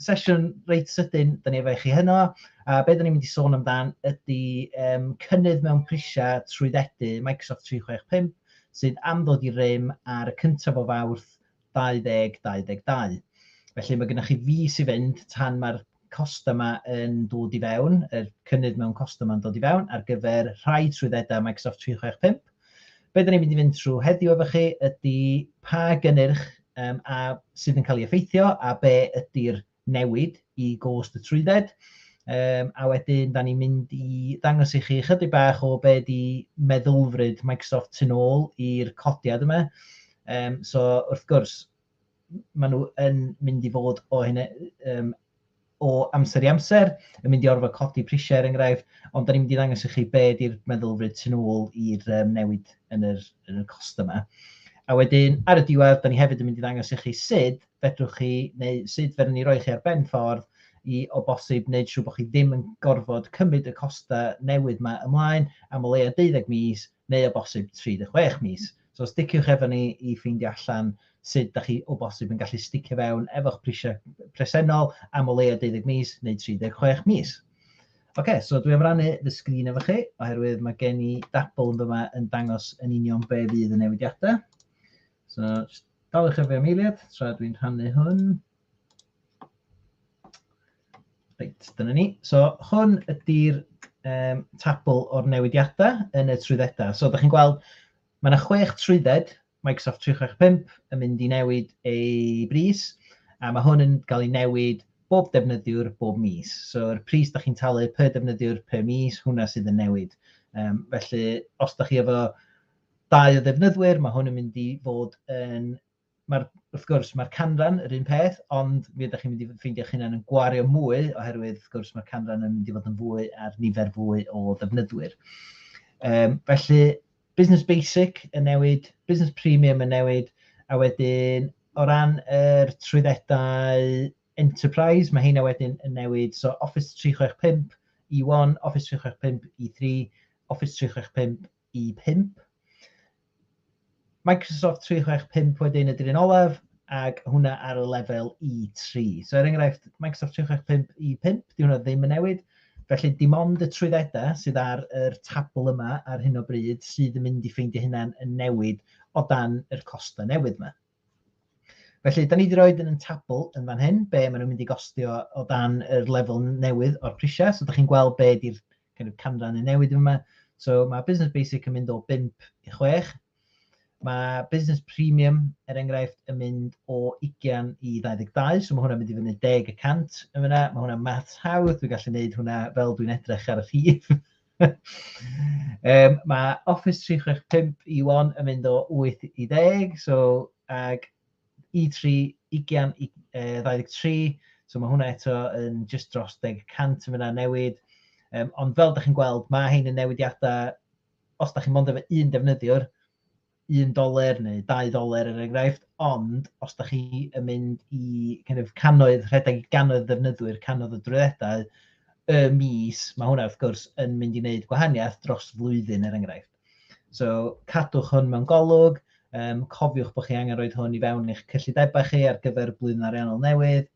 sesiwn reit sydyn, dan ni efo i chi heno, a be dan ni'n mynd i sôn amdan ydy um, cynnydd mewn prisiau trwyddedu Microsoft 365 sydd am ddod i rym ar y cyntaf o fawrth 2022. Felly mae gennych chi fus i fynd tan mae'r costau yma yn dod i fewn, yr cynnydd mewn costau yma'n dod i fewn ar gyfer rhai trwyddedau Microsoft 365. Be dan ni'n mynd i fynd trwy heddiw efo chi ydy pa gynnyrch um, a sydd yn cael ei effeithio a be ydy'r newid i gost y trwydded. Um, a wedyn, da ni'n mynd i ddangos i chi chydig bach o be di meddylfryd Microsoft tu ôl i'r codiad yma. Um, so, wrth gwrs, maen nhw yn mynd i fod o hyn um, o amser i amser, yn mynd i orfod codi prisiau er enghraifft, ond da ni'n mynd i ddangos i chi be ydy'r meddylfryd tu ôl i'r um, newid yn yr, yn yr cost yma. A wedyn, ar y diwedd, da ni hefyd yn mynd i ddangos i chi sut fedrwch chi, neu sut fedrwn ni roi chi ar ben ffordd i o bosib wneud siŵr bod chi ddim yn gorfod cymryd y costau newydd yma ymlaen am o leia 12 mis, neu o bosib 36 mis. So sticiwch efo ni i ffeindio allan sut da chi o bosib yn gallu sticio fewn efo'ch prisiau presennol am o leia 12 mis neu 36 mis. Oce, okay, so dwi am rannu fy sgrin efo chi, oherwydd mae gen i dabl yn dyma yn dangos yn union be fydd y newidiadau. So, daliwch efo am eiliad, tra dwi'n rhannu hwn. Reit, dyna ni. So hwn ydy'r um, tabl o'r newidiadau yn y trwyddedau. So da chi'n gweld, mae yna chwech trwydded Microsoft 365 yn mynd i newid ei bris, a mae hwn yn cael ei newid bob defnyddiwr bob mis. So'r pris da chi'n talu per defnyddiwr per mis, hwnna sydd yn newid. Um, felly, os da chi efo dau o ddefnyddwyr, mae hwn yn mynd i fod yn Mae'r, wrth gwrs, mae'r canran yr un peth, ond mi ydych chi'n mynd i ffeindio eich hunain yn gwario mwy, oherwydd, wrth gwrs, mae'r canran yn mynd i fod yn fwy ar nifer fwy o ddefnyddwyr. Um, felly, Business Basic yn newid, Business Premium yn newid, a wedyn o ran yr er trwyddedau Enterprise, mae heina wedyn yn newid. So Office 365 E1, Office 365 E3, Office 365 i 5. Microsoft 365 wedyn ydy'r un olaf, ac hwnna ar y lefel E3. So er enghraifft, Microsoft 365 E5, di hwnna ddim yn newid. Felly dim ond y trwyddedau sydd ar yr tabl yma ar hyn o bryd sydd yn mynd i ffeindio hynna'n newid o dan yr costau newydd yma. Felly, da ni wedi rhoi yn y tabl yn fan hyn, be maen nhw'n mynd i gostio o dan yr lefel newydd o'r prisiau. So, da chi'n gweld be di'r kind of canran yn newid yma. So, mae Business Basic yn mynd o 5 i 6. Mae Business Premium, er enghraifft, yn mynd o 20 i 22, so mae hwnna'n mynd i fyny 10 y cant yn fyna. Mae hwnna'n maths hawdd, dwi'n gallu gwneud hwnna fel dwi'n edrych ar y rhif. um, mae Office 365 Iwan yn mynd o 8 i 10, so, ag E3 ugian i uh, 23, so mae hwnna eto yn just dros 10% yn fyna newid. Um, ond fel ydych chi'n gweld, mae hyn yn newidiadau, os ydych chi'n mond efo un defnyddiwr, un doler neu dau ddoler er enghraifft, ond os da chi yn mynd i kind of, canoedd, rhedeg i ganoedd ddefnyddwyr, canoedd o drwyddedau, y mis, mae hwnna wrth gwrs yn mynd i wneud gwahaniaeth dros flwyddyn er enghraifft. So cadwch hwn mewn golwg, um, cofiwch bod chi angen rhoi hwn i fewn eich cyllidebau chi ar gyfer blwyddyn ariannol newydd,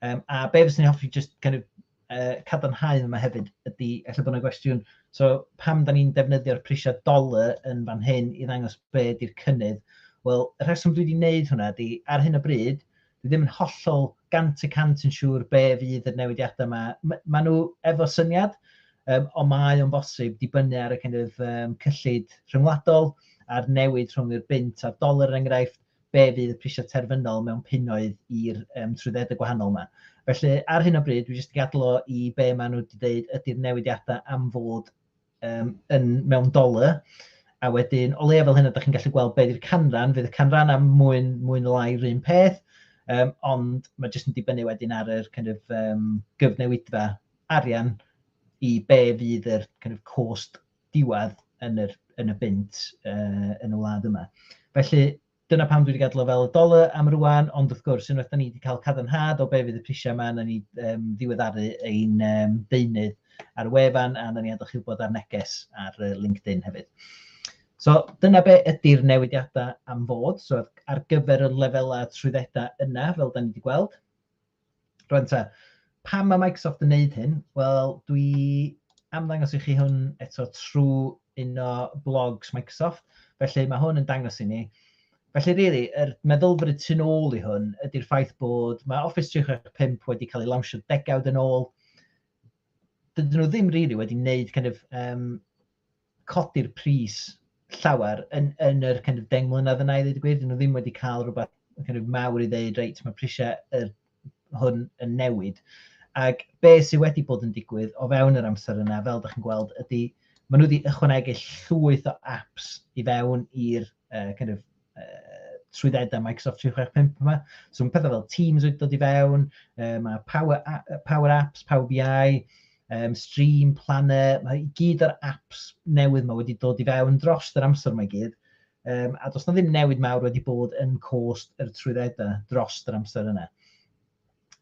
Um, a be fyswn i'n hoffi just kind of, uh, cadarnhau yma hefyd ydy, efallai bod yna gwestiwn, so pam da ni'n defnyddio'r prisiau dollar yn fan hyn i ddangos be ydy'r cynnydd? Wel, y rheswm dwi wedi wneud hwnna ydy, ar hyn o bryd, dwi ddim yn hollol gant y cant yn siŵr be fydd y newidiadau yma. Mae ma nhw efo syniad, um, ond mae o'n bosib dibynnu ar y kind of, um, cyllid rhyngwladol a'r newid rhwng yr bint a'r dolar yn er enghraifft. be fydd y prisiau terfynol mewn punnoedd i'r um, trwyddedau gwahanol yma. Felly, ar hyn o bryd, dwi jyst i gadlo i be maen nhw wedi dweud ydy'r newidiadau am fod um, yn mewn dolau, a wedyn, o leia fel hyn, ydych chi'n gallu gweld beth yw'r canran, fydd y canran am mwyn, mwyn lai rhywun peth, um, ond mae jyst yn dibynnu wedyn ar yr kind of, um, gyfnewidfa arian i be fydd yr kind of, cost diwedd yn yr, yn y bunt uh, yn y wlad yma. Felly, dyna pam dwi wedi gadw fel y doler am rwan, ond wrth gwrs, unwaith da ni wedi cael cadarnhad o be fydd y prisiau yma, na ni um, ddiweddaru ein um, deunydd ar y wefan a na ni adach chi'n bod ar neges ar LinkedIn hefyd. So dyna be ydy'r newidiadau am fod, so ar gyfer y lefelau trwyddedau yna, fel da ni wedi gweld. Rwan te, pam mae Microsoft yn wneud hyn? Wel, dwi am ddangos i chi hwn eto trwy un o blogs Microsoft. Felly mae hwn yn dangos i ni. Felly, really, yr er meddylfryd tu ôl i hwn ydy'r ffaith bod mae Office 365 wedi cael ei lawnsio degawd yn ôl. Dydyn nhw ddim rili really wedi wneud kind of, um, codi'r pris llawer yn, yn yr kind of deng mlynedd yna i ddweud y gwir. Dyn nhw ddim wedi cael rhywbeth kind of mawr i ddeud, reit, mae prisiau yr, hwn yn newid. Ac be sydd wedi bod yn digwydd o fewn yr amser yna, fel ydych chi'n gweld, ydy maen nhw wedi ychwanegu llwyth o apps i fewn i'r uh, kind of uh, trwyddedau Microsoft 365 yma. So mae pethau fel Teams wedi dod i fewn, uh, mae Power, Power Apps, Power BI, um, Stream, Planner, mae gyd o'r apps newydd mae wedi dod i fewn dros yr amser mae gyd. Um, a does na ddim newid mawr wedi bod yn cost yr trwyddedau dros yr amser yna.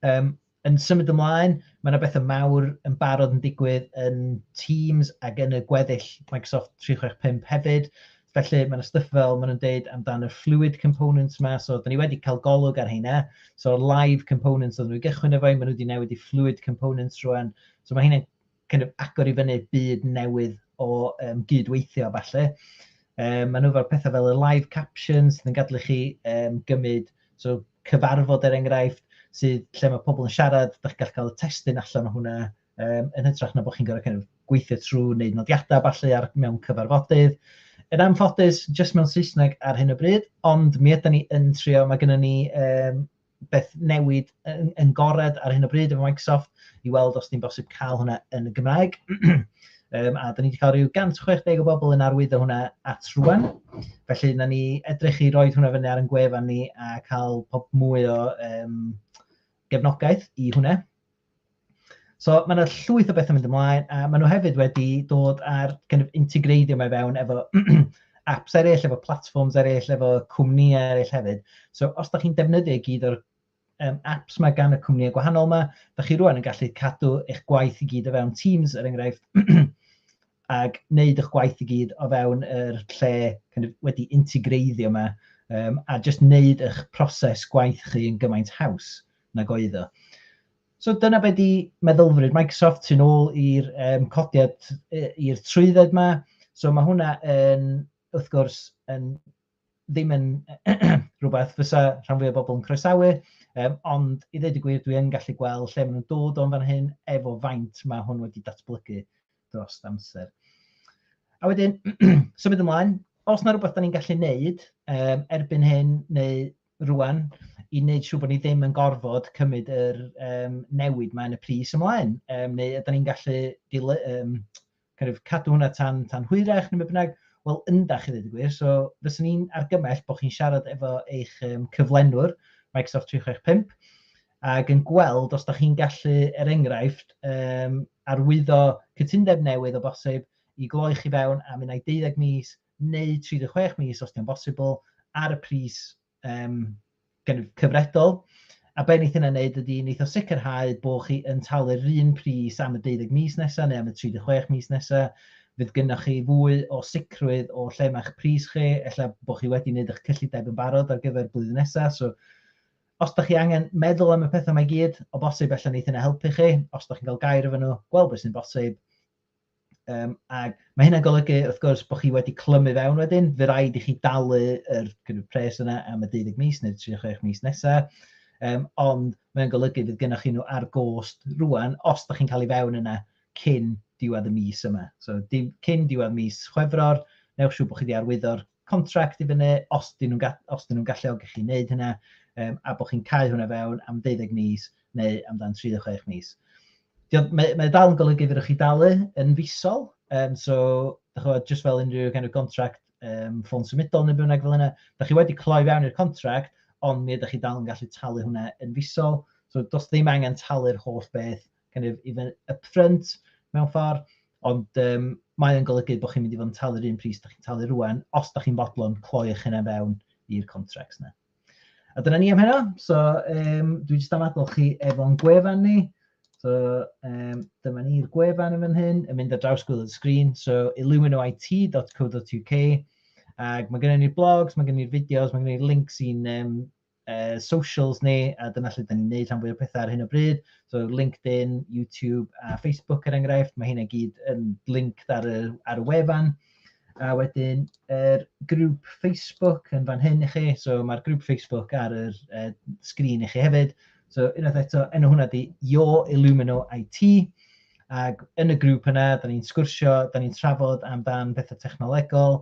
Um, Yn symud ymlaen, mae yna bethau mawr yn barod yn digwydd yn Teams ac yn y gweddill Microsoft 365 hefyd. Felly mae yna stuff fel maen nhw'n deud amdano'r fluid components yma, so da ni wedi cael golwg ar heina. So live components oedden nhw i gychwyn efo, maen nhw wedi newid i fluid components rwan. So mae hynny'n kind of agor i fyny byd newydd o um, gydweithio falle. Um, maen nhw fel pethau fel y live captions sydd yn gadlu chi um, gymryd so, cyfarfod er enghraifft sydd lle mae pobl yn siarad, da chi'n gallu cael y testyn allan o hwnna um, yn hytrach na bod chi'n gorfod kind of, gweithio trwy wneud nodiadau falle ar mewn cyfarfodydd. Yn anffodus, jyst mewn Saesneg ar hyn o bryd, ond mi ydym ni yn trio, mae gennym ni um, beth newid yn, yn gored ar hyn o bryd efo Microsoft i weld os di'n bosib cael hwnna yn y Gymraeg. um, a da ni wedi cael rhyw 160 o bobl yn arwyddo hwnna at rwan. Felly, na ni edrych i roi hwnna fyny ar yn gwefan ni a cael pob mwy o um, gefnogaeth i hwnna. So mae yna llwyth o bethau mynd ymlaen, a maen nhw hefyd wedi dod ar kind of integreiddio mae fewn efo apps eraill, efo platforms eraill, efo cwmnïau eraill hefyd. So os da chi'n defnyddio gyd o'r um, apps mae gan y cwmnïau gwahanol yma, da chi rwan yn gallu cadw eich gwaith i gyd o fewn Teams, er enghraifft, ag wneud eich gwaith i gyd o fewn yr lle kind of, wedi integreiddio yma, um, a jyst wneud eich proses gwaith chi yn gymaint haws. nag oedd o. So dyna be di meddylfryd Microsoft sy'n ôl i'r um, codiad, i'r trwydded yma. So mae hwnna yn, wrth gwrs, yn, ddim yn rhywbeth fysa rhan fwy o bobl yn croesawu, um, ond i ddweud y gwir, dwi yn gallu gweld lle maen nhw'n dod o'n fan hyn efo faint mae hwn wedi datblygu dros amser. A wedyn, symud ymlaen, os na rhywbeth da ni'n gallu neud um, erbyn hyn, neu rŵan i wneud siŵr bod ni ddim yn gorfod cymryd yr um, newid mae'n y pris ymlaen, um, neu ydyn ni'n gallu dile, um, kind of, cadw hwnna tan, tan hwyrach neu beth bynnag, wel ynda chi ddweud y gwir, so fyswn ni'n argymell bod chi'n siarad efo eich um, cyflenwr Microsoft 365 ac yn gweld os da chi'n gallu, er enghraifft, um, arwyddo cytundeb newydd o bosib i gloi chi fewn am unai 12 mis neu 36 mis os 'di o'n bosibl, ar y pris yym gynf- cyfredol. A be wneith hynna wneud ydy wneith o sicrhau bod chi yn talu'r un pris am y 12 mis nesa neu am y 36 mis nesa. Fydd gynnoch chi fwy o sicrwydd o lle mae'ch pris chi, ella bod chi wedi wneud eich cyllideb yn barod ar gyfer blwyddyn nesa. So os da chi angen meddwl am y pethau mae gyd, o bosib ella wneith hynna helpu chi. Os da chi'n cael gair efo nhw, gweld beth sy'n bosib, Um, ac mae hynna'n golygu, wrth gwrs, bod chi wedi clymu fewn wedyn, fe rhaid i chi dalu yr kind of, pres yna am y 12 mis neu 36 mis nesaf, um, ond mae'n golygu fydd gennych chi nhw ar gost rwan os da chi'n cael ei fewn yna cyn diwedd y mis yma. So, dim, cyn diwedd mis Chwefror, newch siw bod chi wedi arwyddo'r contract i fyny os dyn nhw'n ga- os dyn nhw'n galluogi chi wneud hynna um, a bod chi'n cael hwnna fewn am 12 mis neu amdan 36 mis. Mae, mae dal yn golygu fydwch chi dalu yn fisol, um, so chod, just fel unrhyw kind of contract um, ffôn symudol neu bynnag fel yna, da chi wedi cloi fewn i'r contract, ond mi ydych chi dal yn gallu talu hwnna yn fisol, so does ddim angen talu'r holl beth kind of even upfront mewn ffordd, ond um, mae o'n golygu bod chi'n mynd i fod yn talu'r un pris da chi'n talu rwan, os da chi'n fodlon cloi eich hynna fewn i'r contracts yna. A dyna ni am heno, so um, dwi jyst am adol chi efo'n gwefan ni, so um, dyma ni'r gwefan yn fan hyn, yn mynd ar draws gwylio'r sgrin, so illuminoit.co.uk, ac mae gennym ni'r blogs, mae gennym ni'r fideos, mae gennym ni'r links i'n um, uh, socials ni, a dyna lle da ni'n neud rhan fwy o pethau ar hyn o bryd. So LinkedIn, YouTube a Facebook er enghraifft, mae hynna gyd yn link ar y, ar y wefan. A wedyn, yr er grŵp Facebook yn fan hyn i chi, so mae'r grŵp Facebook ar yr uh, sgrin i chi hefyd. So unwaith eto, enw hwnna di Yo Illumino IT, ac yn y grŵp yna, da ni'n sgwrsio, da ni'n trafod amdan bethau technolegol,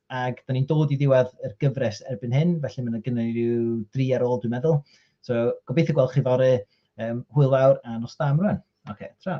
Ac da ni'n dod i ddiwedd yr gyfres erbyn hyn, felly mae yna gynnu ni ryw dri ar ôl dwi'n meddwl. So, gobeithio gweld chi fori, um, hwyl fawr a nos da am rwan. Oce, okay, tra.